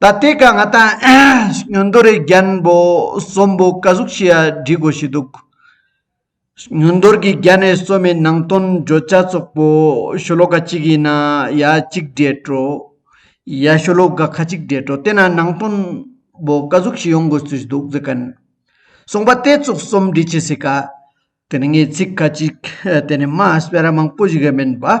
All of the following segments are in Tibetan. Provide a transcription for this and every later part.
ད་ལྟའི་སྐབས་ང་ད་སྨྱོན་རྡོ་རི་རྒྱན་པོ་གསོན་པོ་བཀའ་ཟུར་ཞིག་བསྒྲིག་དགོས་ཞེས་འདུག་སྨྱོན་རྡོར་གྱི་རྒྱ་ནས་གསོན་པའི་ནང་དོན་བརྗོད་བྱ་ཚོགས་པོ་ཤོ་ལོ་ཀ་གཅིག་ཡིན་ན་ཡ་གཅིག་འདྲེས་འགྲོ། ཡ་ཤོ་ལོ་ཀ་ཁ་གཅིག་འདྲེས་འགྲོ་དེ་ན་ནང་དོན་པོ་བཀའ་ཟུར་ཞིག་ཡོང་དགོས་ཚུལ་འདུག་ཟེར་གིན་སོང་པ་དེ་ཚོགས་གསུམ་བསྒྲིག་བྱེད་སྲིད་ཀ། དེ་ནི་ངའི་ཚིག་ཁ་ཅིག་དེ་ནི་མ་སྤེལ་ར་མང་པོ་ཞིག་མིན་པ།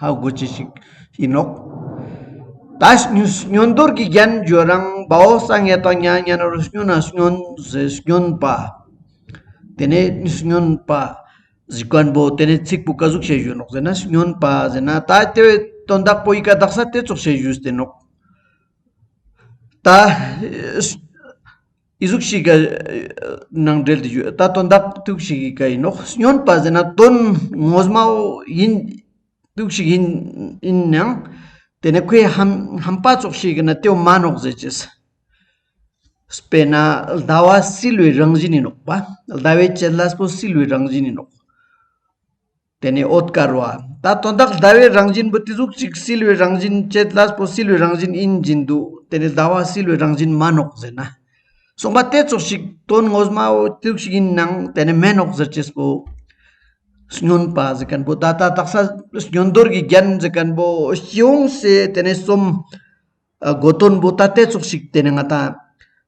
ཧ་གོ་བྱེད་ཞིག་ཡིན་ནོ། ད་སྨྱོན་འདོར་གྱི་རྒྱན་བརྗོད་རང་བའོ་ས་ངན་དང་མྱ་ངན་རོ་སྨྱོ་ན་སྨྱོན་བཟོད་སྨྱོན་པ། དེ་ནས་སྨྱོན་པ་གཟིགས་བར་འབོད་དེ་ནས་ཚིག་པོ་བཀའ་ཟུག་བྱེད་བཞོན་ནོ་ཟེར་ན་སྨྱོན་པ་ཟེར་ན་ད་དེ་བས་དོན་དག་པོ་ཡི་ག་གདགས་ས་དེ་ཚོགས་བྱེད་བཞོས་ཟེར་ནོ། ད། ཨི་གཟུགས་ཤིག་གི་ནང་འདྲེལ་དུ་ཡོད་ད་དོན་དག་ཐུག་ཤིག་ཡིན་ག་ཡིན་ནོ་སྨྱོན་པ་ཟེར་ན་དོན་ངོ་མ་བོ་ཡིན་ཐུག་ཤིག་ཡིན་ཡིན་ཡང་དེ་ནི་ཁོའི་ཧམ་ཧམ་པ་ཙོག་ཤིག་གི་ནི་ཏེའུ་མ་ནོག་ཟེར་གྱི། དཔེར་ན་ཟླ་བ་བསིལ་བའི་རང་བཞིན་ནི་ནོག་པ་ཟླ་བའི་དཔྱད་སླ་པོ་བསིལ་བའི་རང་བཞིན་ནི་ནོག། དེ་ནི་ཨོད་དཀར་བ་ད་དོན་དག་ཟླ་བའི་རང་བཞིན་བུ་དེ་གཟུགས་གཅིག་བསིལ་བའི་རང་བཞིན་བཅད་གླ་པོ་བསིལ་བའི་རང་བཞིན་ཨིན་བཞིན་དུ་དེ་ནི་ཟླ་བ་བསིལ་བའི་རང་བཞིན་མ་ནོག་ཟེར་ན། གསུངས་པ་དེ་ཙོག་ཞིག་དོན་ངོ་སྨྲ་བོ་དུག་ཞིག་ཡིན་ནང་དེ་ནི་མེ་ནོག་ཟེར་ཅེས་པོ། སྨྱོན་པ་ཟེར་མཁན་པོ་ད་ལྟ་དག་ས་སྨྱོན་དོར་གྱི་རྒྱན་ཟེར་མཁན་པོ་སྐྱིད་འོང་ཞེས་དེ་ནི་གསུམ། དགོས་དོན་པོ་ད་དེ་ཙོག་ཞིག་དེ་ནི་ང་དང།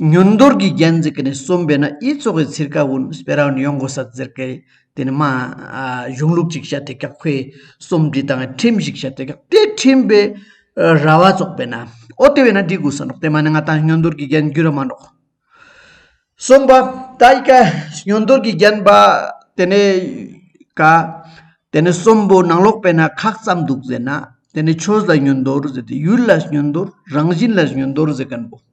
ཉོན་རྡོར་གྱི་རྒྱན་འཛིན་གྱི་ནི་གསུམ་པས་ན་དབྱི་ཚོགས་ཀྱི་ཚིར་ཀ་བུན་སྤེ་ར་བུན་ཡོངས་གོ་ས་ཙིར་ཀའི་དེ་ནི་མ། གཞུང་ལུགས་ཅིག་བྱ་དེ་ཀག་ཕའི་སུམ་འབྲི་དང་ཁྲིམས་ཞིག་བྱ་དེ་ཀག་ཏའི་ཁྲིམས་པའི་ར་བ་ཙོག་པས་ན་ཨོ་དེ་བས་ན་འབྲི་དགོས་ས་འགྲོགས་དེ་མ་ནི་ང་དང་ཉོན་རྡོར་གྱི་རྒྱན་རྒྱུད་ར་མ་འགྲོགས། གསུམ་པ། དབྱི་ཀ་ཉོན་རྡོར་གྱི་རྒྱན་པ་དེ་ནི་ཀ། དེ་ནི་གསུམ་པོ་ནང་ལོགས་པས་ན་ཁག་ཙམ་འདུག་ཟེར་ན་དེ་ནི་ཆོས་ལ་ཉོན་རྡོར་ཟེར་ཏེ་ཡུལ་ལ་ཉོན་རྡོར་རང་བཞིན་ལ་ཉོན་རྡོར་ཟེར་གིན་པོ།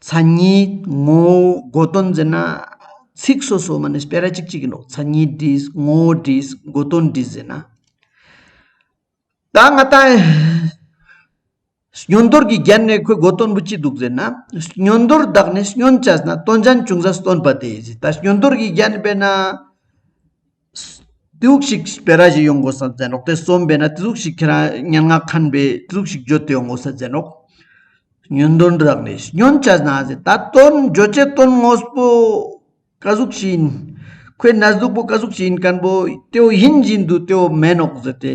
མཚན་ཉིད་ངོ་བོ་དགོས་དོན་འཛིན་ན། ཚིག་སོ་སོ་མ་ནི་སྤེལ་ར་གཅིག་ཅིག་ཡིན་ནོ། མཚན་ཉིད་བྲིས་ངོ་བོ་བྲིས་དགོས་དོན་བྲིས་འཛིན་ན། ད་སྔ་ལྟ། སྨྱོན་དོར་གྱི་རྒྱན་ནི་ཁོའི་དགོས་དོན་བུ་གཅིག་འདུག་ཟེར་ན། སྨྱོན་དོར་བདག་ནི་སྨྱོན་བྱས་ཟིན་ན་སྟོན་ཅན་ཅུང་ཟད་སྟོན་པ་དེ་ཡིན་ཟེར། ད་སྨྱོན་དོར་གྱི་རྒྱན་སྤེལ་ན། དེ་ལུགས་ཤིག་སྤེལ་ར་ཞིག་ཡོང་དགོས་ས་མཛད་རོགས་དེ་གསུམ་སྤེལ་ན་དེ་ལུགས་ཤིག་ཁྱེད་རང་སྙན་ངག་ཁང་པའི་དེ་ལུགས་ཤིག་བརྗོད་དེ་ཡོང་དགོས་ས་མཛད་རོགས། ཉོན་དོན་རག་ལས་ཤིག་ཉོན་བྱ་ན་ཟེར་ད་དོན་བརྗོད་བྱའི་དོན་དངོས་པོ་ཀ་གཟུགས་ཞིག་ཡིན། ཁོའི་ན་ཟུག་པོ་ཀ་གཟུགས་ཞིག་ཡིན་སྐམ་པོ་ཏེའུ་ཡིན་བཞིན་དུ་ཏེའུ་མེད་ནོག་ཟེར་ཏེ།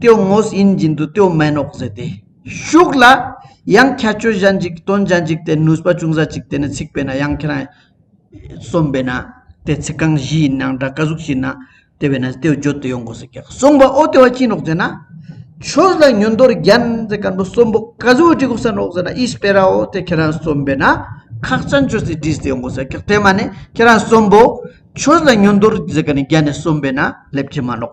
ཏོའི་ངོས་དབྱིན་བཞིན་དུ་ཏོའི་མན་འོག་ཟེར་ཏེ། ཤུགས་ལ། ཡང་ཁྱད་ཆོས་གཞན་གཅིག་དོན་གཞན་གཅིག་སྟེ་ནུས་པ་ཅུང་ཟད་ཅིག་དེ་ནི་ཚིག་པས་ན་ཡང་ཁྱེད་རང། གསུམ་པས་ན། དེ་ཚིག་རྐང་བཞི་ཡིན་ཡང་འདྲ་ཀ་གཟུགས་བཞིན་ན། དེ་བས་ན་ཏོའི་བརྗོད་དུ་ཡོང་དགོས་ཟེར་ཀྱང་གསུངས་པ་ཨོ་ཏེ་བ་གཅིག་འོག་ཟེར་ན། ཆོས་ལ་ཉོན་དོར་རྒྱན་ཟེར་དཀར་པོ་གསུམ་པོ་ཀ་གཟུགས་བྲིས་གོང་ས་ནོག་ཟེར་ན་ཨིས་པེ་ར་འོ་དེ་ཁྱེད་རང་གསུམ་པས་ན། ཁག་བཙན་བྱོལ་སའི་བྲིས་དུ་ཡོང་དགོས་ཟེར་ཀྱང་དེ་མ་ནི་ཁྱེད་རང་གསུམ་པོ། ཆོས་ལ་ཉོན་དོར་ཟེར་ཀ་ནི་རྒྱན་ནི་གསུམ་པས་ན་སླེབས་ཀྱི་མ་ནོག།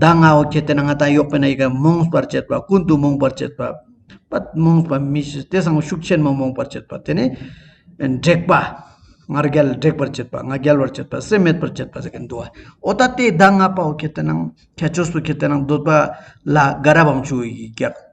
ཟླ་ལྔ་བོ་ཁྱེད་དེ་ན་ང་དང་གཡོག་པོ་ན་ཡི་ག་རྨོངས་པར་བྱེད་པ་ཀུན་ཏུ་རྨོངས་པར་བྱེད་པ་རྨོངས་པ་མི་ཞིག་དེ་སང་ཤུགས་ཆེན་མོ་རྨོངས་པར་བྱེད་པ་དེ་ནི་དྲེགས་པ་ང་རྒྱལ་དྲེགས་པར་བྱེད་པ་ང་རྒྱལ་བར་བྱེད་པ་སེམས་མེད་པར་བྱེད་པ་ཟེར་གྱི་འདུག་བ་ཨོ་ད་ལྟའི་ཟླ་ལྔ་པ་བོ་ཁྱེད་དེ་ན་ཁྱེད་ཆོས་སུ་ཁྱེད་དེ་ན་འདོད་པ་ལ་དགའ་རབ་བམ་ཆུ་ཡིས་བཀྱགས་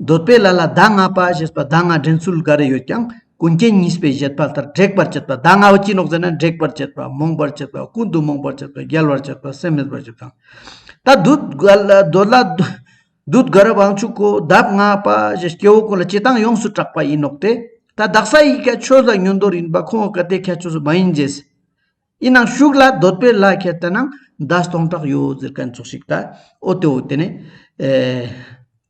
འདོད་པའི་ལ་ལ་ཟླ་ལྔ་པ་ཞེས་པ་ཟླ་ལྔ་འདྲེན་ཚུལ་འགའ་རེ་ཡོད་ཀྱང་ཀུན་མཁྱེན་གཉིས་པས་བཞེད་པ་ལྟར་དྲེགས་པར་བྱེད་པ་ཟླ་ལྔ་བ་ཅི་ལོག་ཟེར་ན་འདྲེག་པར་བྱེད་པ་རྨོངས་པར་བྱེད་པ་ཀུན་ཏུ་རྨོངས་པར་བྱེད་པ་རྒྱལ་བར་བྱེད་པ་སེམས་མེད་པར་བྱེད་པ་དང། ད་གདུལ་དགའ་རབ་དབང་ཕྱུག་གོ་ཟླ་ལྔ་པ་ཞེས་སྐྱེ་བོ་ཀུན་ལ་སྤྱི་དང་ཡོངས་སུ་གྲགས་པ་ཡིན་ནོག་དེ་ད་བདག་ས་ཡི་ཁ་ཆོས་ལ་ཉོན་དོར་ཡིན་པ་ཁོ་བོ་ག་དེ་ཁ་ཆོས་སུ་མ་ཡིན་རྗེས་ཡིན་ནང་ཞུགས་ལ་འདོད་པའི་ལ་ཁད་དེ་ནང་ཟླ་སྟོང་གྲགས་ཡོད་ཟེར་ག་ཚོགས་ཤིག་ད་ཨོ་དེ་ཨོ་དེ་ནས།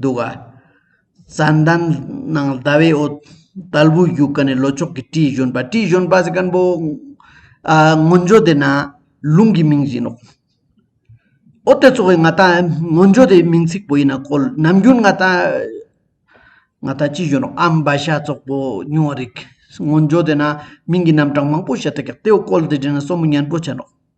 འདུག་ག། རྩྭ་འདམ་ནང་ཟླ་བའི་འོད་དལ་བུས་བཞུགས་ག་ནས་ལོ་ཅོག་གི་སྤྲིའི་བཞོན་པ་སྤྲིའི་བཞོན་པ་ཟེར་མཁན་པོ། སྔོན་བྱོན་དེ་ན་ལུང་གི་མིང་བཞིན་ནོ། ཨོ་དེ་ཚོ་བས་ང་ད་སྔོན་བྱོན་དེ་མིང་ཚིག་པོ་ཡིན་ན་གོ་ནམ་རྒྱུན་ང་ད་ང་ད་ཅི་བྱོན་ནོ་ཨ་འབའ་ཤ་ཙོག་པོ་ཉུང་བ་རིགས་སྔོན་བྱོན་དེ་ན་མིང་གི་རྣམ་གྲངས་མང་པོ་བཤད་ཐུག་ཀྱང་ལྟེ་བ་བཀོལ་དེ་དྲན་ན་སོ་མོ་ཉན་པོ་བྱེད་ནོ།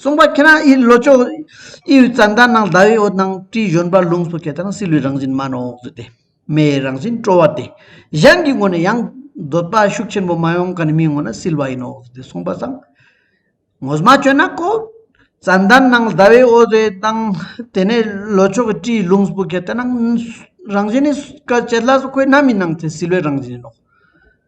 གསུངས་པ་ཁྱེད་རང་ཨི་ལོ་ཅོག་ཨི་ཡོད་རྩ་འདར་ནང་ཟླ་བའི་འོད་སྣང་སྤྲིན་གཞོན་པ་ལུང་སོགས་ཁྱེད་རང་སྲིད་ལུས་རང་བཞིན་མ་ནོར་འོག་ཏུ་སྟེ་མེའི་རང་བཞིན་སྤྲོ་བ་སྟེ་གཞན་གྱི་ངོ་ནས་ཡང་འདོད་པ་ཤུགས་ཆེན་པོ་མ་ཡོང་ག་ནི་མིའི་ངོ་ན་སྲིད་པ་ཡིན་ནོ་འོག་ཏུ་སྟེ་གསུངས་པ་བཟང་ངོ་མ་བཅོས་ན་ཀོ། རྩ་འདར་ནང་ཟླ་བའི་འོད་ཟེར་སྣང་དེ་ནས་ལོ་ཅོག་གི་སྤྲིན་ལུང་སོགས་ཁྱེད་རང་རང་བཞིན་ནི་སྐར་ཆའི་བླ་སོགས་ཁོའི་རྣམ་སྨིན་སྣང་དེ་སྲིད་ལུས་རང་བཞིན་ཡིན་ནོ།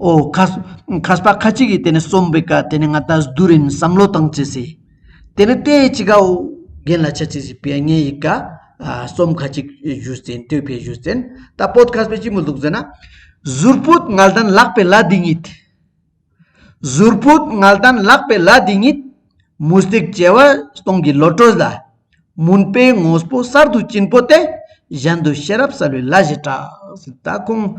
ཨོ། ཁ་ཁ་ཅིག་གིས་དེ་ནི་གསོན་པོའི་སྐད་དེ་ནི་ང་ད་སྡུག་རིང་བསམ་བློ་བཏང་བྱས་ཟེར། དེ་ནི་ལྟས་ཅི་གའོ། རྒན་ལ་ཆ་ཅིག་ཟེར་བས་ངའི་ཡི་ག། གསོམ་ཁ་ཅིག་བཞུས་ཟིན་ལྟོས་ཕས་བཞུས་ཟིན། ད་པོད་ཁ་སྤེ་ཅི་མོ་འདུག་ཟེར་ན། ཟུར་པོད་ངལ་དན་ལག་པའི་ལ་དེ་ཉིད། ཟུར་པོད་ངལ་དན་ལག་པའི་ལ་དེ་ཉིད། མུ་སྟེགས་བྱེ་བ་སྟོང་གི་ལོ་གྲོས་ལ། མུན་པའི་ངོ་སྤོ་གསར་དུ་བྱིན་པོ་ཏེ། གཞན་དུ་ཤེས་རབ་གསལ་བའི་ལ་བཞི་གྲགས། ད་ཁོང།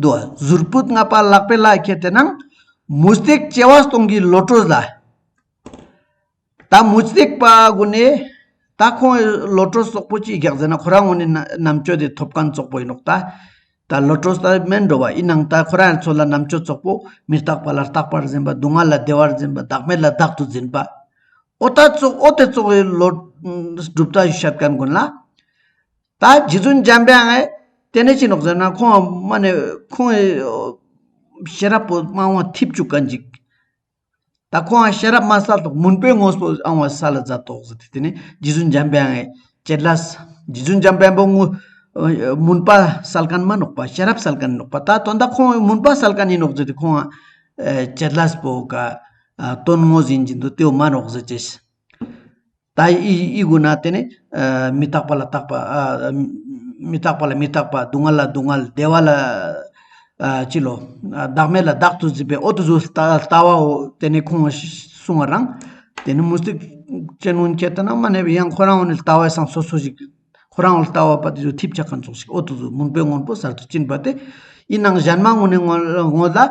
འདུག་གཟུར་སྤུ་ལྔ་པ་ལག་པས་ལག་ཁྱེར་དེ་ནང་མུ་སྟེགས་སྐྱེ་བ་སྟོང་གི་ལོ་སྤྲོ་ལ། ད་མུ་སྟེགས་པ་དགོ་ནས་ད་ཁོང་གི་ལོ་སྤྲོ་སོག་པོ་ཅིག་རྒྱག་ཟེར་ན་ཁོ་རང་ངོ་ནས་ནམ་ཆོས་དེ་ཐོབ་གང་ཙོག་པོ་ཡིན་ནོག་ད། ད་ལོ་སྤྲོ་ས་མེད་འགྲོ་བ་ཡི་ནང་ད་ཁོ་རང་ཚོ་ལ་ནམ་ཆོས་ཙོག་པོ་མི་རྟག་པ་ལ་རྟག་པར་འཛིན་པ་སྡུག་བསྔལ་ལ་བདེ་བར་འཛིན་པ་བདག་མེད་ལ་བདག་ཏུ་འཛིན་པ། ཨོ་ད་ཙོག་ཨོ་དེ་ཙོག་གི་ལོ་སྒྲུབ་ད་ཞབས་ཀྱང་དགོན་ལ། ད་རྗེ་བཙུན་འཇམ་དཔལ་ཨེ་ཏེ་ནི་ཅི་ནོག་ཟེར་ན་ཁོང་སྨྲ་ནས་ཁོང་ཤེས་རབ་པོ་སྨྲ་དབང་ཐིབ་བཅུག་ག་འཇིག། ད་ཁོང་ཤེས་རབ་སྨྲ་ས་ཐོག་མུན་པའི་ངོ་སོ་ཨང་བ་ས་ལ་རྫ་ཐོག་ཟེར་ཏེ་དེ་ནི་རྗེ་བཙུན་འཇམ་དཔལ་ཨེ་ཀྱེ་ལ། རྗེ་བཙུན་འཇམ་དཔལ་པོ་མུན་པ་སལ་ཀན་མ་ནོག་པ་ཤེས་རབ་སལ་ཀན་ནོག་པ་ད་དོན་ད་ཁོང་མུན་པ་སལ་ཀན་ཡིན་ནོག་ཟེར་ཏེ་ཁོང་ཨེ་ཀྱེ་ལ་པོ་ག་དོན་ངོ་ཟིན་གྱིན་དུ་ཏེའུ་མ་ནོག་ཟེར་ཅེས། ད་ཡིས་དགོས་ན་དེ་ནི་མི་རྟག་པ་ལ་རྟག་པ། མི་རྟག་པ་ལ་མི་རྟག་པ་སྡུག་བསྔལ་ལ་སྡུག་བསྔལ་བདེ་བ་ལ་བྱིས་བློ། བདག་མེད་ལ་བདག་ཏུ་འཛིན་པའི་འོ་དོ་ཟོས་ལྟ་བའོ། དེ་ནས་ཁོང་གསུང་བ་རང། དེ་ནི་མུ་སྟེགས་ཅན་སྔོན་ཁྱེད་ལྟ་ན་མ་གནས་པའི་ཡང་ཁོ་རང་བོ་ནི་ལྟ་བས་སངས་སོ་སོ་ཞིག། ཁོ་རང་བོ་ལྟ་བ་པ་དེ་ཚོས་ཐིབས་ཆག་ག་འཚོགས་ཤིག་འོ་དོ་ཟོས་མུན་པའི་སྔོན་པོ་གསར་དུ་བཅིངས་པ་དེ། ཡིན་ནང་གཞན་མ་དངོས་ནས་དངོས་ལ།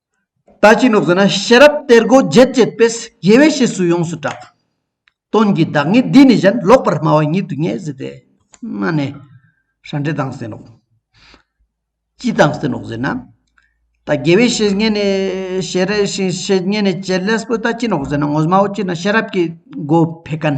ལྟ་ཅི་ནུབ་ཟེར་ན་ཤེས་རབ་གཏེར་སྒོ་བརྒྱད་བཅས་དཔེས་དགེ་བའི་བཤེས་སུ་ཡོངས་སུ་གྲགས། སྟོན་གྱི་བདག་ཉིད་འདི་ནི་གཞན་ལོག་པར་སྨྲ་བ་ཉིད་དུ་ངེས་ཟེར་ཏེ། སྨྲ་ནི། ཧྲ་འདྲེ་དང་ཟེར་ནོ། ཅི་དང་ཟེར་ནོ་ཟེར་ན། ལྟ་དགེ་བའི་བཤེས་གཉེན་ནི་ཤེས་རབ་བཤེས་གཉེན་ནི་བྱེད་ལས་སུ་ལྟ་ཅི་ནུབ་ཟེར་ན་ངོ་སྨྲའོ་ཅི་ན་ཤེས་རབ་ཀྱི་སྒོ་ཕེ་ཀན།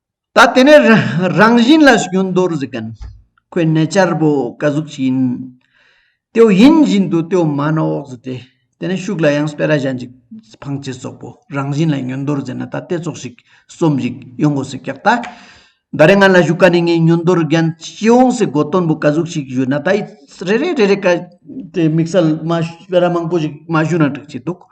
ད་དེ་ནས་རང་བཞིན་ལ་སྐྱོན་མདོར་གཟིགས་ཀན། ཁོའི་གནས་བཅར་བོ་བཀའ་གཟུགས་ཅིག་ཡིན། ཏེའུ་ཡིན་བཞིན་དུ་ཏེའུ་མ་ནོ་འོག་ཟི་ཏེ། དེ་ནས་ཤུགས་ལ་ཡང་སྤེ་ར་གཞན་ཅིག་འཕང་བྱེད་སོགས་པོ་རང་བཞིན་ལ་སྙོན་མདོར་མཛད་ན་ད་ལྟའི་ཚོགས་ཞིག་གསོམ་བཞིག་ཡོང་གོ་སི་ཀྱག་ད། ད་རེ་ང་ལ་བཞུགས་ཀ་ནས་ངའི་སྙོན་མདོར་རྒན་སྐྱེ་བོང་སི་གོ་སྟོན་བོ་བཀའ་གཟུགས་ཅིག་བཞུགས་ན་ད་ཡི་རེ་རེ་རེ་རེ་དཀའ་དེ་དམིགས་བསལ་མ་སྤེ་ར་མང་པོ་ཞིག་མ་བཞུགས་ན་འགྲིག་ཅེས་འདུག།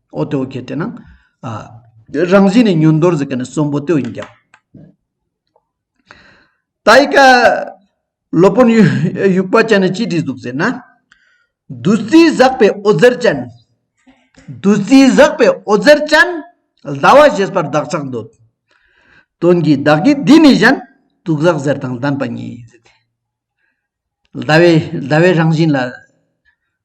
ཨོ་ཏོ་གེ་དེ་ན་རང་བཞིན་ནི་ཉོན་རྡོར་གཟིགས་ཀ་ནི་གསོན་པོ་ཏོ་ཡིན་ཀྱང། ད་ཡིད་ཀ་ལོ་དཔོན་དབྱུག་པ་ཅན་ནི་ཅི་བྲིས་འདུག་ཟེར་ན། བདུད་རྩིའི་ཟག་པའི་ཨོ་རྩེར་ཅན། བདུད་རྩིའི་ཟག་པའི་ཨོ་རྩེར་ཅན། ཟླ་བ་བཞེས་པར་བདག་ཅག་འདོད། དོན་གྱིས་བདག་གིས་འདི་ནི་གཞན། དུག་ཟག་གཟེར་དང་ལྡན་པ་ཉིད། ཟླ་བའི་རང་བཞིན་ལ།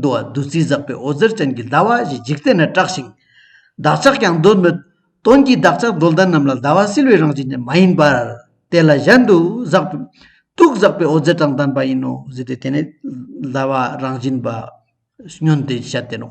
འདུ་བ་བདུད་རྩིས་བཟགས་པའི་འོད་ཟེར་ཅན་གྱི་ཟླ་བ་བཞི་འཇིག་རྟེན་ན་བཀྲགས་ཤིང། བདག་ཅག་ཀྱང་འདོད་མོད། དོན་གྱིས་བདག་ཅག་འགྲོ་ལྡན་རྣམས་ལ་ཟླ་བ་བསིལ་བའི་རང་བཞིན་ཅན་མ་ཡིན་པར། དེ་ལ་གཞན་དུ་བཟགས། དུག་བཟགས་པའི་འོད་ཟེར་དང་ལྡན་པ་ཡིན་ནོ་ཟེར་ཏེ་དེ་ནི་ཟླ་བ་རང་བཞིན་པ། སྨྱོན་ཏེ་བཤད་དེ་ནོ།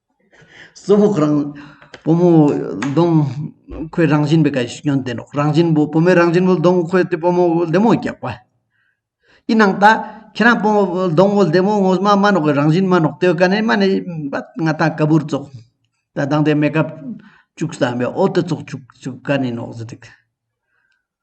སོ་ཕག་རང་བུ་མོ་གདོང་ཁོད་རང་བཞིན་པའི་སྐད་ཅིག་སྐྱོན་ལྡན་ནོ། རང་བཞིན་བུ་བུ་མོའི་རང་བཞིན་བུ་གདོང་ཁོད་དེ་བུ་མོ་བུ་ལྡེ་མོ་རྒྱག་པ། ཡིན་ནའང་ད་ཁྱེད་རང་བུ་མོ་བུ་གདོང་བུ་ལྡེ་མོ་ངོ་མ་མ་ནོག་གི་རང་བཞིན་མ་ནོག་ལྟོས་ག་ནས་མ་ནས་པ་ང་ད་ག་བུར་བཙོག་ད་སྡང་དེ་མེད་ཀ་བཅུག་བསམ་པའི་ཨོ་ཏི་བཙོག་བཅུག་བཅུག་ག་ནས་ནོག་ཟེར་དུས།